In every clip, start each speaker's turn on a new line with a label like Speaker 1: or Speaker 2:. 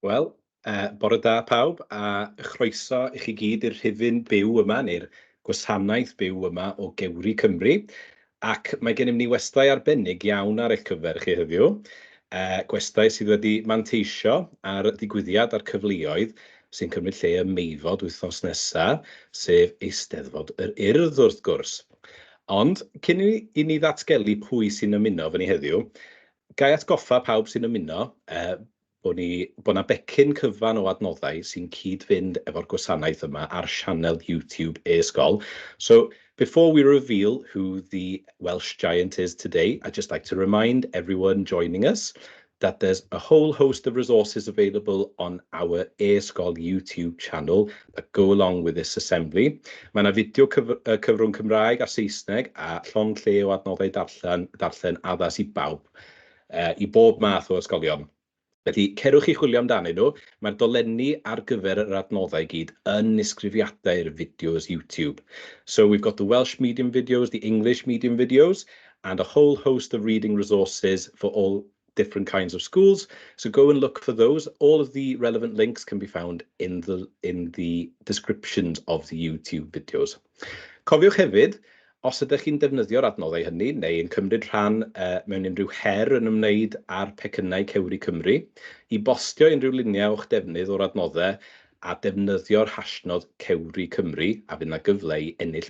Speaker 1: Wel, yy, bore da pawb, a chroeso i chi gyd i'r rhifyn byw yma, neu'r gwasanaeth byw yma o Gewri Cymru. Ac mae gennym ni westai arbennig iawn ar eich cyfer chi heddiw. Uh, gwestai sydd wedi manteisio ar ddigwyddiad a'r cyfleoedd sy'n cymryd lle ym Meifod wythnos nesaf, sef Eisteddfod yr Urdd wrth gwrs. Ond cyn i ni ddatgelu pwy sy'n ymuno fy ni heddiw, Ga i atgoffa pawb sy'n ymuno bod ni... bod 'na becyn cyfan o adnoddau sy'n cyd-fynd efo'r gwasanaeth yma ar sianel YouTube e-ysgol. So, before we reveal who the Welsh giant is today, I'd just like to remind everyone joining us that there's a whole host of resources available on our e-ysgol YouTube channel Go Along With This Assembly. Mae yna fideo cyf uh, cyfrwng Cymraeg a Saesneg a llond lle o adnoddau darllen, darllen addas i bawb, uh, i bob math o ysgolion. Felly, cerwch i chwilio amdanyn nhw. Mae'r dolenni ar gyfer yr adnoddau gyd yn nisgrifiadau'r fideos YouTube. So we've got the Welsh medium videos, the English medium videos, and a whole host of reading resources for all different kinds of schools. So go and look for those. All of the relevant links can be found in the, in the descriptions of the YouTube videos. Cofiwch hefyd, os ydych chi'n defnyddio'r adnoddau hynny neu yn cymryd rhan uh, mewn unrhyw her yn ymwneud â'r pecynnau Cewri Cymru, i bostio unrhyw luniau o'ch defnydd o'r adnoddau a defnyddio'r hashnod Cewri Cymru a fydd yna gyfle i ennill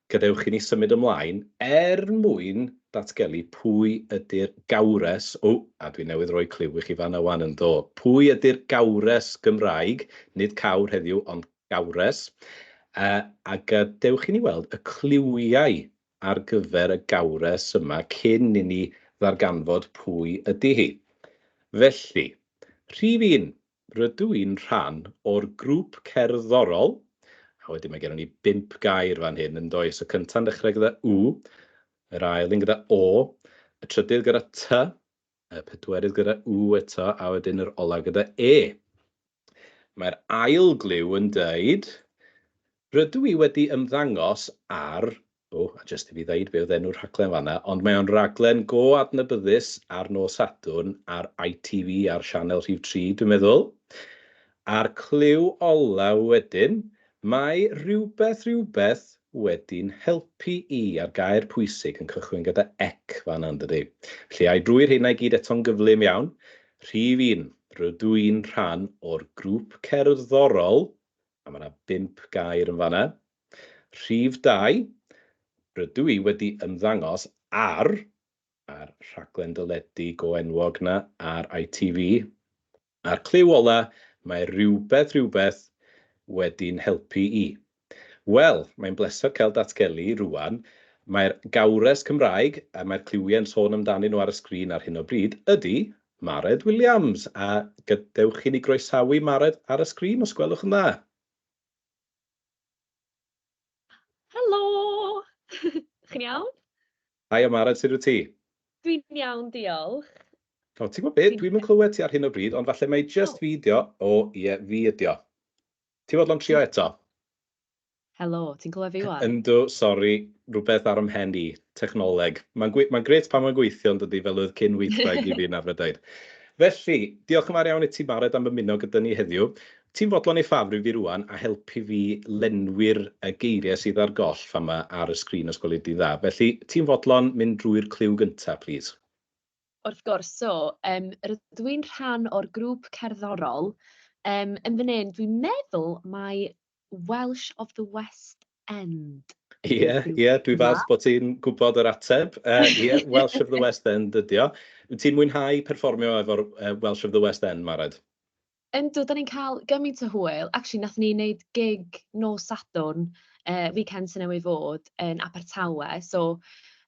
Speaker 1: Gadewch i ni symud ymlaen er mwyn datgelu pwy ydy'r gawres, o, a dwi newydd roi cliw i chi fan'na 'wan, yndo, pwy ydy'r gawres Gymraeg, nid cawr heddiw, ond gawres, yy, a gadewch i ni weld y cliwiau ar gyfer y gawres yma cyn i ni ddarganfod pwy ydy hi. Felly, rhif un, Rydw i'n rhan o'r grŵp cerddorol, a wedyn mae gennon ni bump gair fan hyn, yn does? Y cynta'n dechrau gyda U, yr ail un gyda O, y trydydd gyda T, y pedwerydd gyda U eto, a wedyn yr olaf gyda E. Mae'r ail gliw yn dweud, Rydw i wedi ymddangos ar O, a jyst i fi ddeud be oedd enw'r rhaglen fanna, ond mae o'n raglen go adnabyddus ar nos Sadwrn ar ITV ar sianel rhif 3, dwi'n meddwl. A'r clyw ola wedyn, mae rhywbeth rhywbeth wedi'n helpu i, a'r gair pwysig yn cychwyn gyda ec fanna yndydi? Felly ai drwy rheina i gyd eto'n gyflym iawn? Rhif un, rydw i'n rhan o'r grŵp cerddorol, a mae yna bump gair yn fanna, Rhif dau, rydw i wedi ymddangos ar, a'r rhaglen deledu go enwog 'na ar ITV, a'r cliw ola, mae rhywbeth, rhywbeth wedi'n helpu i. Wel, mae'n bleser cael datgelu, rŵan, mai'r gawres Cymraeg, a mae'r cliwie'n sôn amdanyn nhw ar y sgrin ar hyn o bryd, ydy Mared Williams, a gadewch i ni groesawu Mared ar y sgrin, os gwelwch yn dda.
Speaker 2: Helo! Chi'n iawn? Haia Maren,
Speaker 1: sut wyt ti? Dwi'n iawn,
Speaker 2: diolch. O, ti'n gwybod
Speaker 1: beth? Dwi'm yn clywed ti ar hyn o bryd, ond falle mai jyst fi ydi o. O, ie, fi ydi o. Ti'n fodlon trio eto?
Speaker 2: Helo, ti'n clywed fi ŵan? Yndw, sori,
Speaker 1: rhywbeth ar 'y mhen i. Technoleg. Mae'n gwe- mae'n grêt pan mae'n gweithio, yn dydi, fel oedd cyn weithwraig i fi yna, Brydain. Felly, diolch yn fawr iawn i ti, Mared, am ymuno gyda ni heddiw. Ti'n fodlon ei ffafrio fi rŵan a helpu fi lenwi'r yy geiriau sydd ar goll fan 'ma ar y sgrin os gweli di'n dda. Felly, ti'n fodlon mynd drwy'r cliw gynta, plîs? Wrth gwrs,
Speaker 2: so, yym, rydw i'n rhan o'r grŵp cerddorol, yym, yn fan 'yn, dwi'n meddwl mai Welsh of the West End Ie, yw'r grŵp ie,
Speaker 1: dwi 'ma. falch bod ti'n gwybod yr ateb. Yy, ie, Welsh of the West End ydi o. Wyt ti'n mwynhau perfformio efo'r yy Welsh of the West End, Mared? Yndw, dan
Speaker 2: ni'n cael gymaint o hwyl. Acshyli, wnaethon ni wneud gig nos Sadwrn, yy, weekend sy newydd fod, yn Abertawe. So,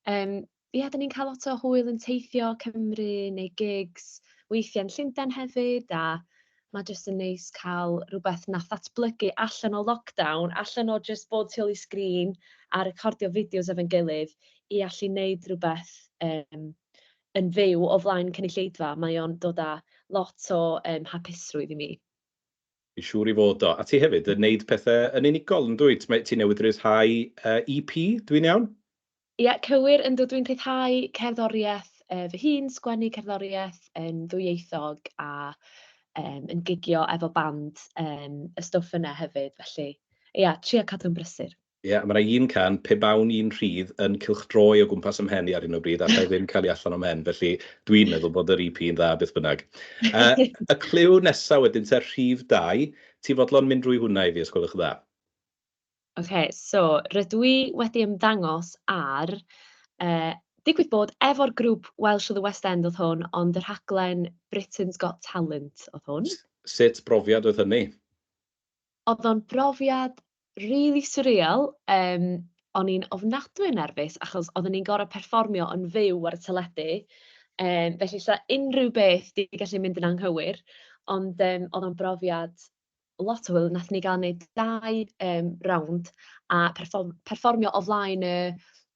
Speaker 2: yym, ia, dan ni'n cael lot o hwyl yn teithio Cymru, wneud gigs, weithiau yn Llundain hefyd, a mae jyst yn neis cael rywbeth wnaeth ddatblygu allan o lockdown, allan o jyst bod tu ôl i sgrin a recordio fideos efo'n gilydd, i allu wneud rywbeth, yym, yn fyw o flaen cynulleidfa, mae o'n dod â lot o yym hapusrwydd i mi. Fi'n siŵr
Speaker 1: i fod o. A ti hefyd yn neud pethe yn unigol yndwyt? Mae... Ti newydd ryddhau yy EP, dw i'n iawn? Ie, cywir,
Speaker 2: yndw, dwi'n rhyddhau cerddoriaeth yy fy hun, sgwennu cerddoriaeth yn ddwyieithog a yym yn gigio efo band yym y stwff yna hefyd, felly ia, trio cadw'n brysur. Ie, mae 'na un can,
Speaker 1: pe bawn i'n rhydd, yn cylchdroi o gwmpas 'y mhen i ar hyn o bryd, alla i ddim cael hi allan o'm mhen, felly dwi'n meddwl bod yr EP yn dda beth bynnag. Y cliw nesa wedyn te, rhif dau, ti fodlon mynd drwy hwnna i fi os gwelwch yn dda? Ok,
Speaker 2: so rydw i wedi ymddangos ar, digwydd bod, efo'r grŵp Welsh of the West End oedd hwn, ond y rhaglen Britain's Got Talent oedd hwn. Sut brofiad
Speaker 1: oedd hynny? Oedd
Speaker 2: o'n brofiad rili swreal, yym o'n i'n ofnadwy o nerfus achos odden ni'n gor'o' perfformio yn fyw ar y teledu yym felly 'sa unryw beth 'di gallu mynd yn anghywir ond yym o'dd o'n brofiad lot o hwyl nathon ni ga'l neud dau yym rownd a perfform- perfformio o flaen y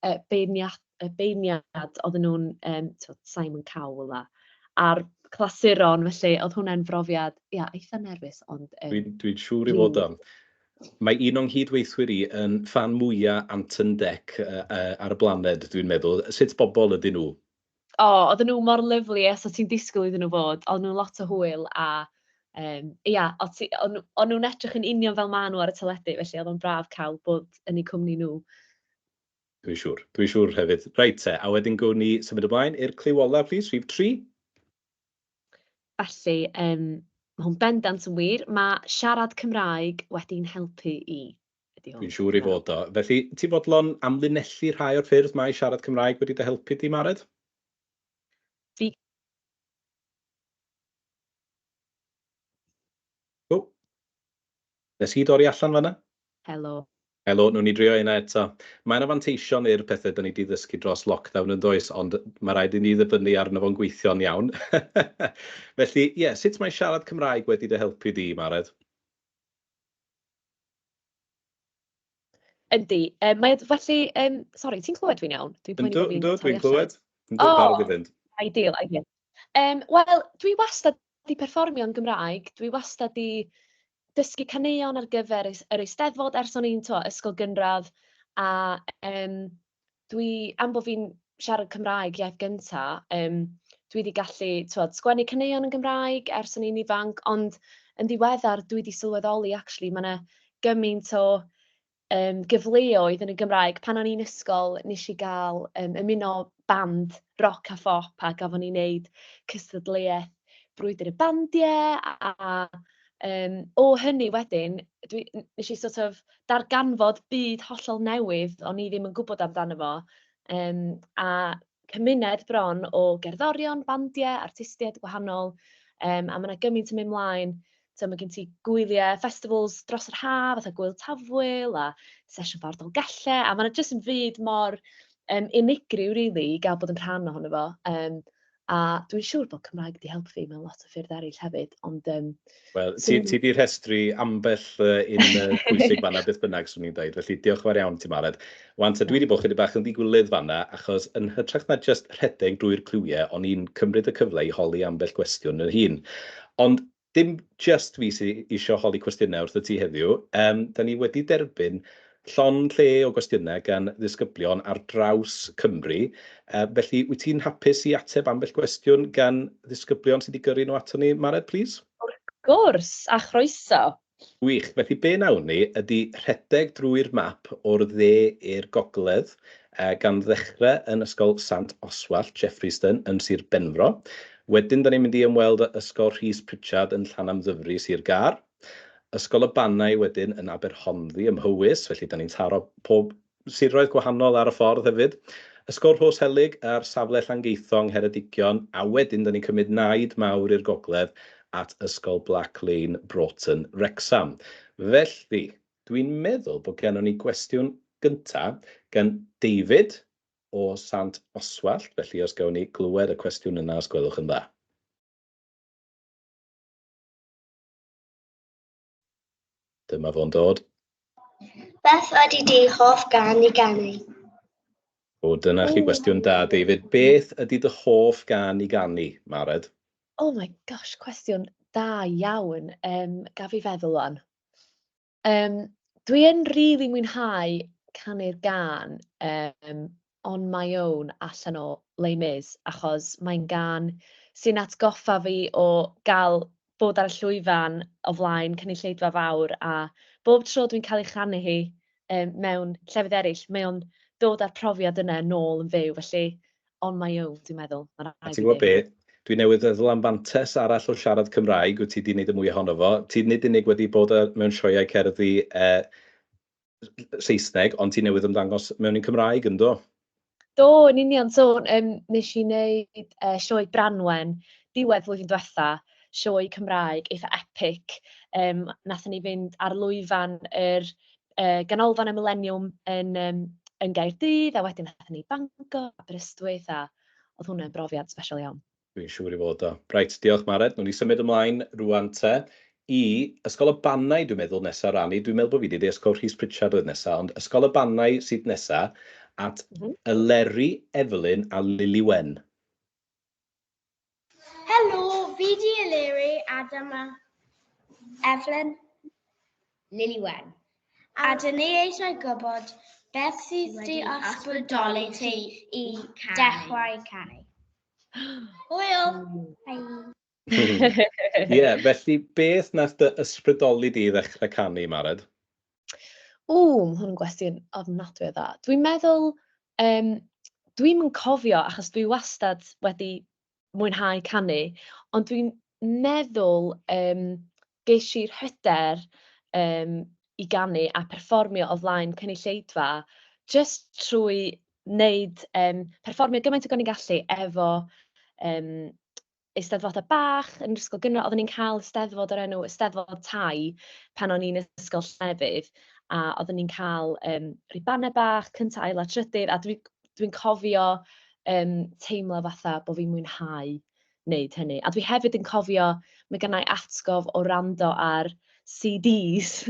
Speaker 2: y beirniad- y beirniad oedden nhw'n yym tibod Simon Cowell a a'r clasuron felly oedd hwnna'n brofiad ia eitha nerfus ond yym... Dwi'n dwi siŵr
Speaker 1: i fod o'n. Mae un o'n nghyd-weithwyr i yn ffan mwya Anton Dec uh, uh, ar y blaned dwi'n meddwl. Sut bobl ydyn nhw? O, oh, oedden nhw
Speaker 2: mor lyflu as o ti'n disgwyl iddyn nhw fod. Oedden nhw lot o hwyl a um, ia, o'n nhw'n edrych yn union fel maen nhw ar y teledu felly oedd o'n braf cael bod yn eu cwmni nhw. Dwi'n
Speaker 1: siŵr. Dwi'n siŵr hefyd. Reit te, a wedyn gwn ni symud ymlaen i'r cliw olaf, plis, rhif tri. Felly,
Speaker 2: um, mae hwn bendant yn wir. Mae siarad Cymraeg wedi'n helpu i. Dwi'n siŵr i
Speaker 1: fod o. Felly, ti fodlon amlinellu rhai o'r ffyrdd mae siarad Cymraeg wedi dy helpu di, Mared?
Speaker 2: Fi...
Speaker 1: O! Nes i dorri allan fanna? Helo.
Speaker 2: Helo, newn ni
Speaker 1: drio hynna eto. Mae yna fanteision i'r pethe 'da ni 'di ddysgu dros lockdown yn does, ond ma' raid i ni ddibynnu arno fo'n gweithio'n iawn. Felly, ie, sut mae siarad Cymraeg wedi dy helpu di, Marred?
Speaker 2: Yndi, yy mae o felly yym sori ti'n clywed fi'n iawn? Dwi'n poeni bo'
Speaker 1: fi'n torri allan. Yndw, yndw dwi'n clywed. Yndw barod i fynd. O! Ideal, ideal.
Speaker 2: Yym wel dwi wastad 'di perfformio'n Gymraeg, dwi wastad 'di dysgu caneuon ar gyfer y yr Eisteddfod ers o'n i'n t'wo' ysgol gynradd a yym dwi am bo' fi'n siarad Cymraeg iaith gynta yym dwi 'di gallu t'wod sgwennu caneuon yn Gymraeg ers o'n i'n ifanc ond yn ddiweddar dwi 'di sylweddoli actually ma' 'na gymaint o yym gyfleoedd yn y Gymraeg. Pan o'n i'n ysgol wnes i gael yym ymuno band roc a phop a gafon ni wneud cystadleuaeth brwydr y bandiau a a yym o hynny wedyn dwi... wnes i sort of darganfod byd hollol newydd o'n i ddim yn gwybod amdano fo yym a cymuned bron o gerddorion, bandiau, artistiaid gwahanol, um, a mae yna gymaint yn mynd mlaen. So, mae gen ti gwyliau, festivals dros yr haf, fatha Gwyl Tafwyl a Sesiwn Fawr Dolgellau, a mae yna jyst yn fyd mor um, unigryw, really, i gael bod yn rhan ohono fo. Um, a dwi'n siŵr bod Cymraeg wedi helpu fi mewn lot o ffyrdd eraill hefyd, ond um, Wel,
Speaker 1: ti ti 'di rhestru ambell uh, un uh, pwysig fanna beth bynnag swn i'n dweud, felly diolch yn fawr iawn ti Mared. Wan, ta dwi wedi bod chydig bach yn ddigwylydd fanna, achos yn hytrach na just rhedeg drwy'r cliwiau, o'n i'n cymryd y cyfle i holi ambell gwestiwn yn hun. Ond dim just fi sydd eisiau holi cwestiynau wrth y ti heddiw, um, da ni wedi derbyn Llond lle o gwestiynau gan ddisgyblion ar draws Cymru. Felly, wyt ti'n hapus i ateb ambell gwestiwn gan ddisgyblion sydd wedi gyrru nhw aton ni, Mared, plîs? Wrth gwrs,
Speaker 2: a chroeso. Gwych. Felly,
Speaker 1: be wnawn ni ydy rhedeg drwy'r map o'r dde i'r gogledd, gan ddechrau yn Ysgol Sant Oswallt, Jeffreyston, yn Sir Benfro. Wedyn, 'da ni'n mynd i ymweld â Ysgol Rhys Pritchard yn Llanymddyfri, Sir Gâr. Ysgol y Bannau wedyn yn Aberhonddu ym Mhowys, felly dan ni'n taro pob siroedd gwahanol ar y ffordd hefyd. Ysgol Rhoshelyg ar safle Llangeitho yng Ngheredigion, a wedyn dan ni'n cymryd naid mawr i'r gogledd at Ysgol Black Lane, Broughton, Wrecsam. Felly, dwi'n meddwl bod gennon ni gwestiwn gynta gan David o Sant Oswallt, felly os gawn ni glywed y cwestiwn yna os gwelwch yn dda.
Speaker 3: Dyma
Speaker 1: fo'n dod.
Speaker 3: Beth ydy
Speaker 1: dy
Speaker 3: hoff gan i ganu?
Speaker 1: O, dyna chi gwestiwn da, David. Beth ydy dy hoff gan i ganu, Mared? Oh my
Speaker 2: gosh, cwestiwn da iawn. Um, gaf i feddwl o'n. Yym, dwi yn rili mwynhau canu'r gân um, On My Own allan o Les Mis, achos mae'n gân sy'n atgoffa fi o gael bod ar y llwyfan o flaen cynulleidfa fawr, a bob tro dwi'n cael ei chanu hi um, mewn llefydd eraill, mae o'n dod â'r profiad yna nôl yn fyw, felly on my own dwi'n meddwl. Ma' raid i fi ddeud. A ti'n gwybod be?
Speaker 1: Dwi
Speaker 2: newydd feddwl
Speaker 1: am fantes arall o siarad Cymraeg wyt ti 'di wneud y mwy ohono fo. Ti nid unig wedi bod ar, mewn sioeau cerddi e, Saesneg, ond ti newydd ymddangos mewn un Cymraeg, yn do? Do, yn
Speaker 2: union. So, um, nes i wneud uh, sioe Branwen diwedd flwyddyn diwetha, sioe Cymraeg eitha epic. Um, nath ni fynd ar lwyfan yr er yy Ganolfan y Mileniwm yn yym yn Gaerdydd, a wedyn aethon ni i Bangor, Aberystwyth, a oedd hwnna'n brofiad sbesial iawn. Dwi'n siŵr ei fod o.
Speaker 1: Reit, diolch Mared. Nawn ni symud ymlaen rŵan te i Ysgol y Bannau, dwi'n meddwl, nesa, Rani. Dwi'n meddwl bod fi 'di deud Ysgol Rhys Pritchard oedd nesa, ond Ysgol y Bannau sydd nesa, at Eleri, Evelyn a Lili Wen.
Speaker 3: Helo, fi di Eleri, Adam a Evelyn.
Speaker 4: Lily Wen. A dyn ni
Speaker 3: eisiau gwybod beth sydd wedi ysbrydoli ti i dechrau canu. Hwyl! Ie,
Speaker 1: felly beth nath dy ysbrydoli di i ddechrau canu, Mared? O,
Speaker 2: mae hwn yn gwestiwn ofnadwy o dda. Dwi'n meddwl, um, dwi'm yn cofio achos dwi wastad wedi mwynhau canu, ond dwi'n meddwl um, ges i'r hyder um, i ganu a perfformio o flaen cynulleidfa just trwy wneud, um, perfformio gymaint o gan i'n gallu efo um, eisteddfodau bach yn yr ysgol gynradd. Oedden ni'n cael eisteddfod o'r enw Eisteddfod Tai pan o'n i'n ysgol Llafur, a oedden ni'n cael um, ribannau bach, cyntaf, ail a trydydd, a dwi'n dwi, cofio um, teimlo fatha bod fi'n mwynhau wneud hynny. A dwi hefyd yn cofio, mae gennau atgof o rando ar CDs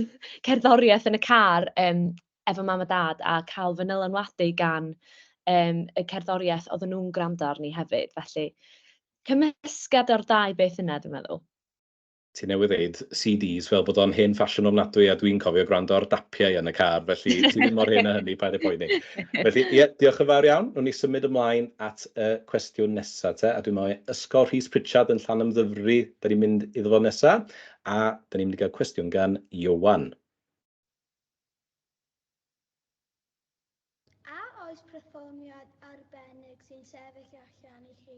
Speaker 2: cerddoriaeth yn y car um, efo mam a dad a cael fy nylanwadu gan um, y cerddoriaeth oedden nhw'n gwrando arni hefyd. Felly, cymysgad o'r ddau beth yna, dwi'n meddwl. Ti newydd
Speaker 1: ddeud CDs fel bod o'n hen ffasiwn ofnadwy a dwi'n cofio gwrando ar dapiau yn y car, felly ti ddim mor hen a hynny, paid â poeni. Felly, ie, yeah, diolch yn fawr iawn. Nw'n ni symud ymlaen at y cwestiwn nesaf te, a dwi'n meddwl Ysgol Rhys Pritchard yn llan ymddyfri, da ni'n mynd iddo fo nesaf, a da ni'n mynd i gael cwestiwn gan Iowan.
Speaker 3: A
Speaker 1: oes perfformiad arbennig sy'n sefyll allan i chi?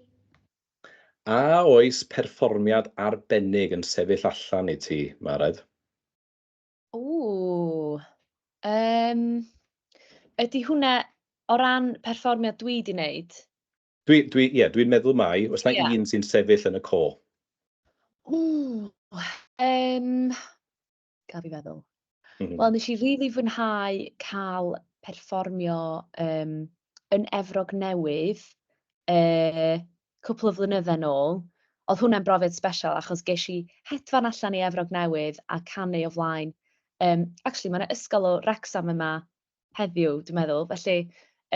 Speaker 1: A oes perfformiad arbennig yn sefyll allan i ti, Mared? Ww! Yym,
Speaker 2: ydy hwnna o ran perfformiad dwi 'di neud? Dwi, dwi, ie,
Speaker 1: dwi'n meddwl mai, oes 'na Ia. un sy'n sefyll yn y co? Ww! Yym,
Speaker 2: gaf i feddwl. Mm. Wel, nes i rili really fwynhau cael perfformio um, yn Efrog Newydd uh, cwpl o flynydde nôl. Oedd hwnna'n brofiad special achos ges i hedfan allan i Efrog Newydd a canu o flaen. Um, actually, mae'n ysgol o Rexham yma heddiw, dwi'n meddwl. Felly,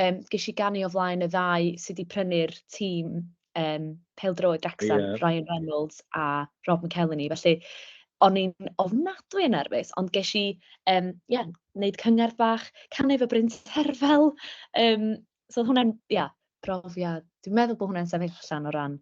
Speaker 2: um, ges i ganu o flaen y ddau sydd wedi prynu'r tîm um, peldroed Wrexham, yeah. Ryan Reynolds a Rob McElhenney. Felly, o'n i'n ofnadwy yn nerfus, ond ges i, um, yeah, wneud cyngerdd bach, canu fy bryn terfel. Um, so, hwnna'n, yeah, profiad. Dwi'n meddwl bod hwnna'n sefyll allan o ran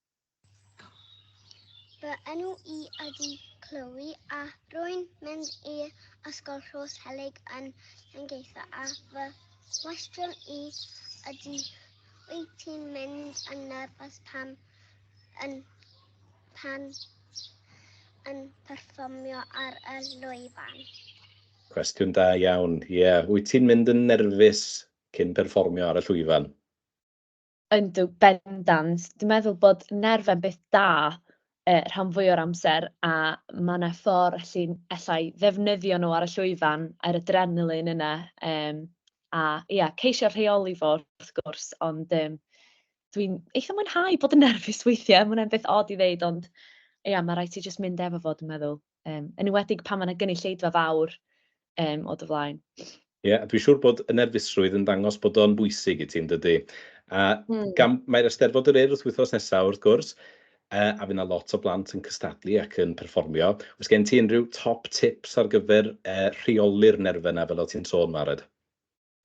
Speaker 3: Fy enw i ydi Chloe a rwy'n mynd i Ysgol Rhos Helig yn Llangeitho a fy cwestiwn i ydi wyt ti'n mynd yn nerfus pam yn pan yn perfformio ar y lwyfan? Cwestiwn
Speaker 1: da iawn. Ie, yeah. wyt ti'n mynd yn nerfus cyn perfformio ar y llwyfan?
Speaker 2: Yndw, bendant. Dwi'n meddwl bod nerfau'n beth da yy rhan fwya o'r amser, a ma' 'na ffor allu alla i ddefnyddio nhw ar y llwyfan, yr adrenaline yna, yym a ia, ceisio rheoli fo wrth gwrs, ond yym dwi'n eitha mwynhau bod yn nerfus weithiau, ma' hwnna'n beth od i ddeud, ond ia, ma' raid ti jyst mynd efo fo dwi'n meddwl. um, yn ywedig pan mae yna gynulleidfa fawr um, o dy flaen. Ie, yeah, dwi'n siŵr
Speaker 1: bod y nerfusrwydd yn dangos bod o'n bwysig i ti'n dydy. A mm. gam, mae'r Eisteddfod yr Urdd wythnos nesaf wrth gwrs, uh, a fyna lot o blant yn cystadlu ac yn perfformio. Os gen ti unrhyw top tips ar gyfer uh, rheoli'r nerfau yna fel o ti'n sôn, Mared?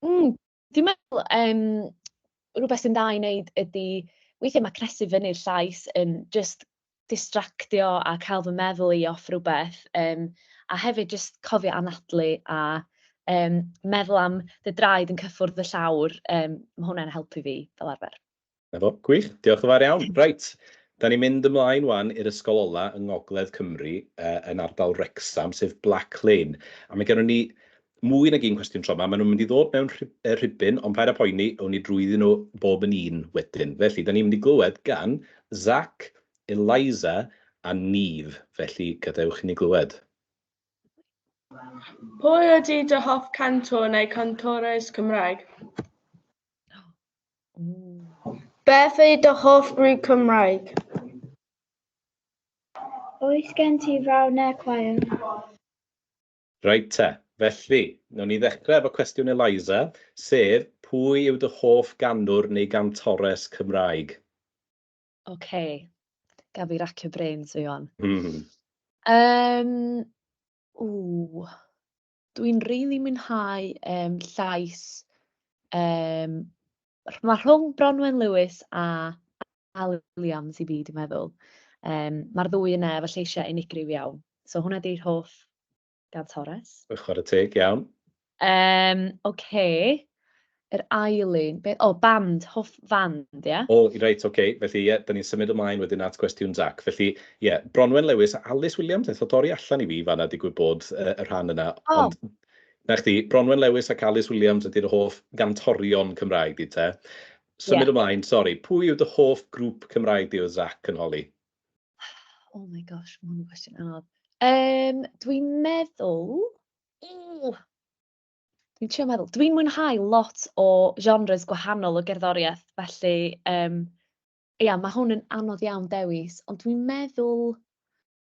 Speaker 1: Mm,
Speaker 2: Dwi'n meddwl yym rywbeth sy'n dda i wneud ydy, weithiau mae cnesu fyny'r llais yn jyst distractio a cael fy meddwl i off rhywbeth um, a hefyd jyst cofio anadlu a um, meddwl am dy draed yn cyffwrdd y llawr, um, mae hwnna'n helpu fi fel arfer. 'Na fo, gwych,
Speaker 1: diolch yn fawr iawn. Reit, da ni'n mynd ymlaen wan i'r ysgol ola yng Ngogledd Cymru, uh, yn ardal Wrecsam, sef Black Lane. A mae gennym ni mwy nag un cwestiwn tro yma. Maen nhw'n mynd i ddod mewn rhibyn, ond paid â poeni, awn ni drwyddyn nhw bob yn un wedyn. Felly, da ni'n mynd i glywed gan Zach, Eliza a Neve. Felly, gadewch i ni glywed.
Speaker 5: Pwy ydy dy hoff cantwr neu cantores Cymraeg? Beth yw dy hoff grŵp Cymraeg?
Speaker 3: Oes gen ti fraw neu chwaer?
Speaker 1: Reit te, felly, wnawn ni ddechrau efo cwestiwn Eliza, sef, pwy yw dy hoff ganwr neu gantores Cymraeg? Ok,
Speaker 2: gaf fi racio brains fi wan. Yym, ww. Dwi'n rili mwynhau yym llais yym rh- ma' rhwng Bronwen Lewis a Alun Williams i fi dwi meddwl. Yym ma'r ddwy yna efo lleisiau unigryw iawn. So hwnna 'di'r hoff gantores. Chwarae teg,
Speaker 1: iawn. Yym
Speaker 2: ocê. Yr ail un, beth? O, band, hoff fand, ie? O, reit, ok. Felly,
Speaker 1: ie, 'da ni'n symud ymlaen wedyn at gwestiwn Zach. Felly, ie, Bronwen Lewis a Alys Williams neth o dorri allan i fi fan'na digwydd bod, yy, y rhan yna. O! Ond, 'na chdi, Bronwen Lewis ac Alys Williams ydi'r hoff gantorion Cymraeg di te. Ie. Symud ymlaen, sori, pwy yw dy hoff grŵp Cymraeg di oedd Zach yn holi? Oh
Speaker 2: my gosh, ma' hwn yn gwestiwn anodd. Yym, dwi'n meddwl, ww! Dwi'n trio meddwl. Dwi'n mwynhau lot o genres gwahanol o gerddoriaeth, felly um, ia, mae hwn yn anodd iawn dewis, ond dwi'n meddwl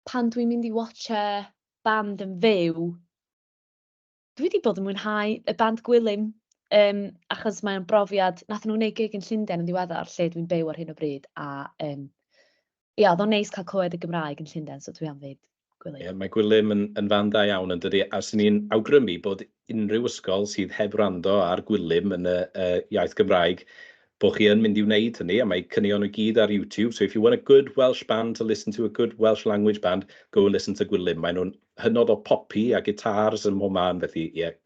Speaker 2: pan dwi'n mynd i watcha band yn fyw, dwi wedi bod yn mwynhau y band Gwilym, um, achos mae'n brofiad, nath nhw'n ei gig yn Llundain yn ddiweddar, lle dwi'n byw ar hyn o bryd, a um, Ia, oedd o'n neis cael clywed y Gymraeg yn Llundain, so dwi am ddeud Gwilym. Ie, mae Gwilym yn
Speaker 1: yn fan da iawn yn dydi, a 'swn i'n awgrymu bod unrhyw ysgol sydd heb wrando ar Gwilym yn y y iaith Gymraeg, bod chi yn mynd i wneud hynny, a mae caneuon nhw i gyd ar YouTube, so if you want a good Welsh band to listen to, a good Welsh language band, go and listen to Gwilym. Maen nhw'n hynod o popi a gitars ym mhob man, felly ie.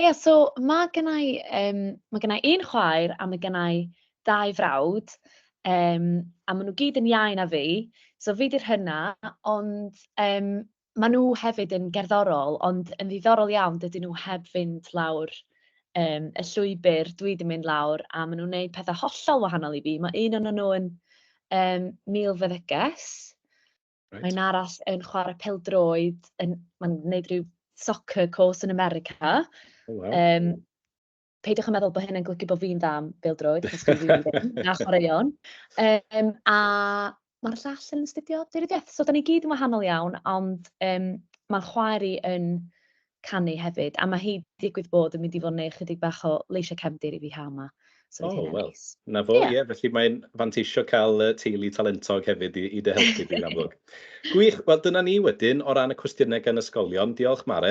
Speaker 1: Ie,
Speaker 2: so ma' gynna i yym... ma' gynna i un chwaer a ma' gynna i dau frawd, yym, a maen nhw gyd yn iau na fi, so fi 'di'r hyna', ond yym maen nhw hefyd yn gerddorol, ond yn ddiddorol iawn, dydyn nhw heb fynd lawr yym y llwybr dwi 'di mynd lawr, a maen nhw'n wneud pethe hollol wahanol i fi. Ma' un ohonyn nhw yn yym milfeddyges. Mae un arall yn chwarae peldroed, yn, mae'n gwneud rhyw soccer course yn America. Oh, wow. um, peidiwch yn meddwl bod hynny'n glygu bod fi'n dda am beldroed, achos dwi'n rili ddim, na chwaraeon. Um, a mae'r llall yn astudio dyrediaeth, so da ni gyd yn wahanol iawn, ond um, mae'r chwaer i yn canu hefyd, a mae hi digwydd bod yn mynd i fod yn neud chydig bach o leisiau cefndir i fi haf ma. So oh, well. Neis. Na fo,
Speaker 1: ie, yeah. yeah, felly mae'n fanteisio cael uh, teulu talentog hefyd i, i dy helpu di'n amlwg. Gwych, wel dyna ni wedyn o ran y cwestiynau gan ysgolion. Diolch Mare.